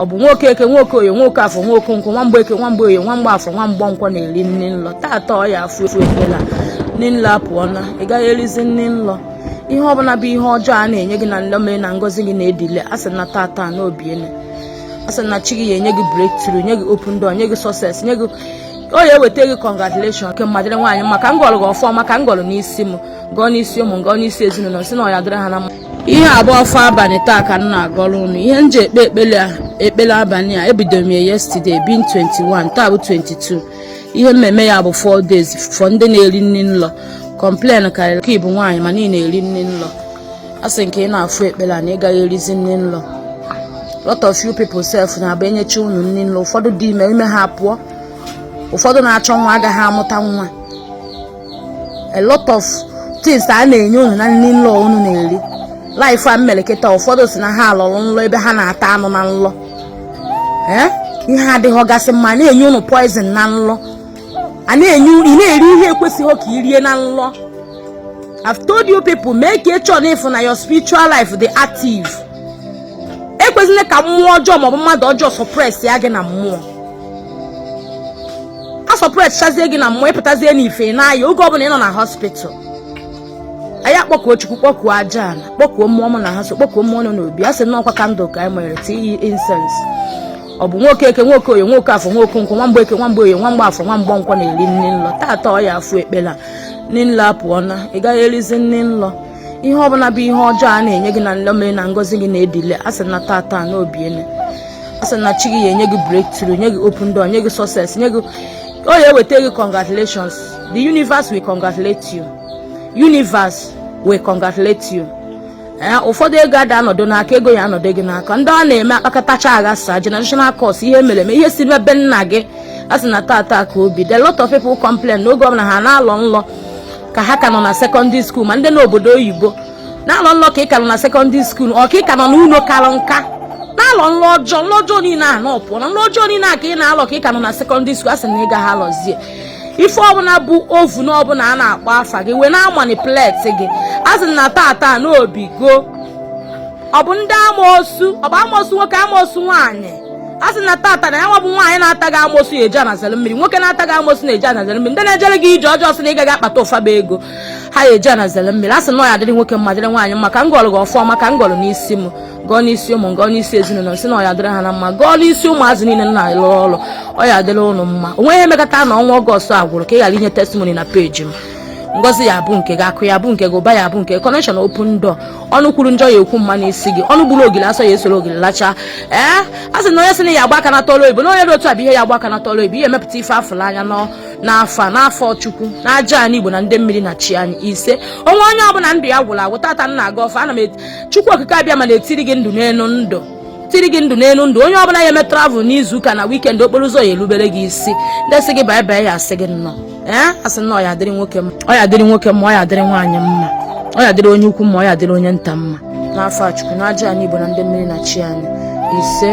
ọ bụ nwoke eke nwoke oye nwoke afọ nwoke nkwọ nwa mgbeke nwa mgbe oye nwa mgbe afọ nwa mgbe nkwọ na-eri nni nlọ taata ọ ya afụ ekpele a nni nlọ apụọna ị gaghị erizi nni nlọ ihe ọbụla bụ ihe ọjọọ a na-enye gị na nlọ mere na ngozi gị na-edelay a sị na taata na o biele a sị na chi gị ya enye gị breakthrough nye gị open door nye gị success nye gị o ya eweta gị congratulation ke mma dịrị nwaanyị mma ka m gọlụ gị ọfụma ka m gọlụ n'isi m gọọ n'isi ụmụ m gọọ n'isi ezinụlọ sị na ọ ya adịrị ha na mma ihe a bụ ọfọ abalị taa ka m na-agọrọ unu ihe m ji ekpe ekpele abalị a ebido m ya yesterday being 21 taa bụ 22 ihe mmemme ya bụ 4 days for ndị na-eri nri nlọ complain karịrị ka ị bụ nwaanyị ma niile na-eri nri nlọ a sị nke ị na-afụ ekpele na ị gaghị erizi nri nlọ lot of you people self na-abụ e nyecha unu nri nlọ ụfọdụ dị ime ime ha apụọ ụfọdụ na-achọ nwa agaghị amụta nwa a lot of things a na-enye unu na nri nlọ unu na-eri life a mmeleketa ụfọdụ sị na ha lọrọ nlọ ebe ha na-ata anụ na nlọ eh? ihe adịghị gasị mma na-enye unu poison na nlọ a na-enye ị na-eri ihe ekwesịghị ka i rie na nlọ I've told you people make sure ị fụ na your spiritual life dị active ekwesịghị ka mmụọ ọjọọ maọbụ mmadụ ọjọọ suppressịa gị na mmụọ a suppress chazie gị na mmụọ ị pụtazie n'ife na-aya oge ọbụla ị nọ na hospital anyị akpọkuo chukwu kpọkuo aja ala kpọkuo mmụọ mụ na ha so kpọkuo mmụọ nọ n'obi a sị na ọ kwa candle ka anyị nwere tii incense ọ bụ nwoke eke nwoke oye nwoke afọ nwoke nkwọ nwa mgbe eke nwa mgbe oye nwa mgbe afọ nwa mgbe nkwọ na-eri nni nlọ taata ọ ya afụ ekpele a nni nlọ apụọna ị gaghị erizi nni nlọ ihe ọ bụla bụ ihe ọjọọ a na-enye gị na nlọ mere na ngozi gị na-edelay a sị na tata na o biele a sị na chi gị ya enye gị breakthrough nye gị open door nye gị success nye gị o ya eweta gị congratulations the universe will congratulate you universe will congratulate you Eh, ụfọdụ ego ada anọdụ n'aka ego ya anọdụ gị n'aka ndị ọ na-eme akpakọtacha aghasa generational curse ihe e mere eme ihe si ebe nna gị a sị na tata ka o biri lot of people complain na oge ọbụla ha na-alọ nlọ ka ha ka nọ na secondary school ma ndị n'obodo oyibo na-alọ nlọ ka ị ka nọ na secondary school ọ ka ị ka nọ n'ụlọ kara nka na-alọ nlọ ọjọọ nlọ ọjọọ niile a na ọ pụọna nlọ ọjọọ niile a ka ị na-alọ ka ị ka nọ na secondary school a sị na ị gaghị alọzie ife ọbụla bụ coven ọbụla a na-akpọ afa gị wee na-amanipulate gị a sị na tata na o bigo ọ bụ ndị amoosu ọ bụ amoosu nwoke amoosu nwaanyị a sị na tata na ya nwa bụ nwaanyị na-ata gị amosu eji ana ezere mmiri nwoke na-ata gị amosu na-eji ana ezere mmiri ndị na-ejere gị ije ọjọọ sị na ị gaghị akpata ụfaba ego ha ya eji ana ezere mmiri a sị na ọ ya adịrị nwoke mma dịrị nwaanyị mma ka m gọrọ gị ọfọma ka m gọrọ n'isi m gọọ n'isi ụmụ gọọ n'isi ezinụlọ sị na ọ ya adịrị ha na mma gọọ n'isi ụmụazị niile na-alụ ọrụ ọ ya adịrị ụnụ mma o nweghị ihe mekata na ọnwa August a gwụrụ ka ị ghara inye testimony na page m ngozi ya bụ nke gị akụ ya bụ nke gị ụba ya bụ nke connection open door ọnụ kwuru njọ ya ekwu mma n'isi gị ọnụ gburu ogili asọ ya esoro ogili lacha ee a sị na onye sị na ya agba aka na tọọlụ oyibo na onye dị otu a bụ ihe ya agba aka na tọọlụ oyibo ihe emepụta ife afụla anya n'afa n'afa chukwu na aja anị igbo na ndị mmiri na chi anyị ise o nwee onye ọbụla ndụ ya gwụrụ agwụ tata m na-agọ ọfọ a nna m chukwu okike abịama na-etiri gị ndụ n'elu ndụ tiri gị ndụ n'elu ndụ onye ọbụla ya eme travel n'izu ụka na weekend okporo ụzọ ya elubere gị isi ndị sị gị bye bye ya asị gị nnọọ ee asị na ọ ya adịrị nwoke mma ọ ya adịrị nwoke mma ọ ya adịrị nwaanyị mma ọ ya adịrị onye ukwu mma ọ ya adịrị onye nta mma n'afa chukwu na aja anị igbo na ndị mmiri na chi anyị ise